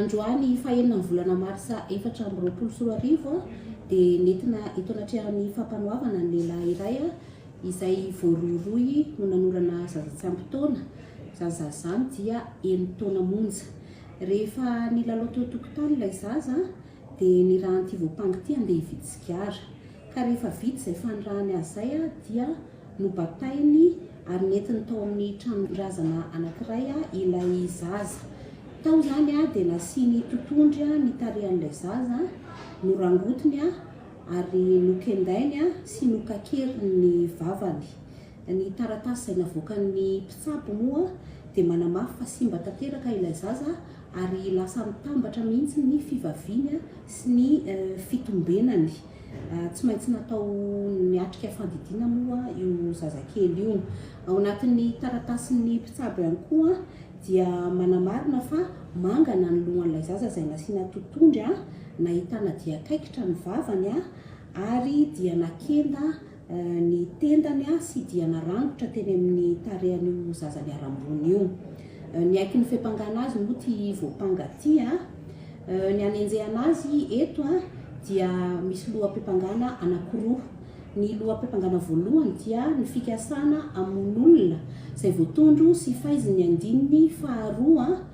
Androany fahenina amin'ny volana marsa efatra amby roapolo sy roa arivo dia nentina eto anatrehan'ny fampanoavana ny lehilahy iray izay voarohirohy ho nanorana zaza tsy ampy taona, izany zaza izany dia enina taona monja. Rehefa nilalao teo an-tokotany ilay zaza dia nirahan'ity voampanga ity andeha hividy sigara. Ka rehefa vita izay fanirahany azy izay dia nobatainy ary nentiny tao amin'ny tranon-drazana anankiray ilay zaza. Tao izany dia nasiany totondry ny tarehan'ilay zaza, norangotiny ary nokendainy sy nokakeriny ny vavany. Ny taratasy izay navoakan'ny mpitsabo moa dia manamafy fa simba tanteraka ilay zaza ary lasa mitambatra mihitsy ny fivaviany sy ny fitombenany. Tsy maintsy natao niatrika fandidiana moa io zazakely io. Ao anatin'ny taratasin'ny mpitsabo ihany koa dia manamarina fa mangana ny lohan'ilay zaza izay nasiana totondry, nahitana dian-kaikitra ny vavany ary dia nakenda ny tendany sy dia narangotra teny amin'ny tarehan'io zaza niharam-boina io. Niaiky ny fiampangana azy moa ity voampanga ity. Ny anenjehana azy eto dia misy loham-piampangana anankiroa. Ny loham-piampangana voalohany dia ny fikasana hamono olona izay voatondro sy faizin'ny andininy faharoa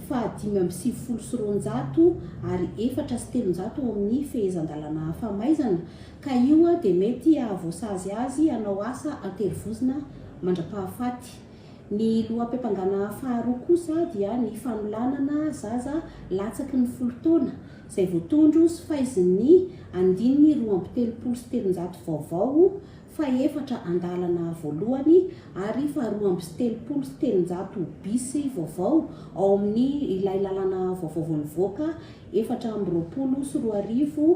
faha dimy amby sivifolo sy roanjato ary efatra sy telonjato ao amin'ny fehezan-dalàna famaizana Ka io dia mety hahavoasazy azy hanao asa an-terivozona mandra-pahafaty. Ny loham-piampangana faharoa kosa dia ny fanolanana zaza latsaky ny folo taona, izay voatondro sy faizin'ny andininy roa amby telopolo sy telonjato vaovao, fahefatra andalana voalohany ary faharoa amby sy telopolo sy telonjato bis vaovao ao amin'ny ilay lalàna vaovao vao nivoaka efatra amby roapolo sy roa arivo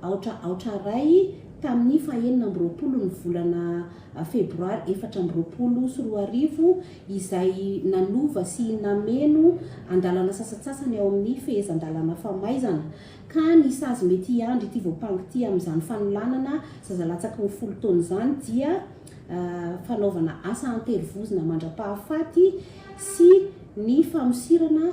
aotra aotra iray tamin'ny fahenina amby roapolo ny volana febroary efatra amby roapolo sy roa arivo izay nanova sy nameno andalana sasantsasany ao amin'ny fehezan-dalàna famaizana ka ny sazy mety hiandry ity voampanga ity amin'izany fanolanana zaza latsaky ny folo taona izany dia fanaovana asa an-terivozona mandra-pahafaty sy ny famosirana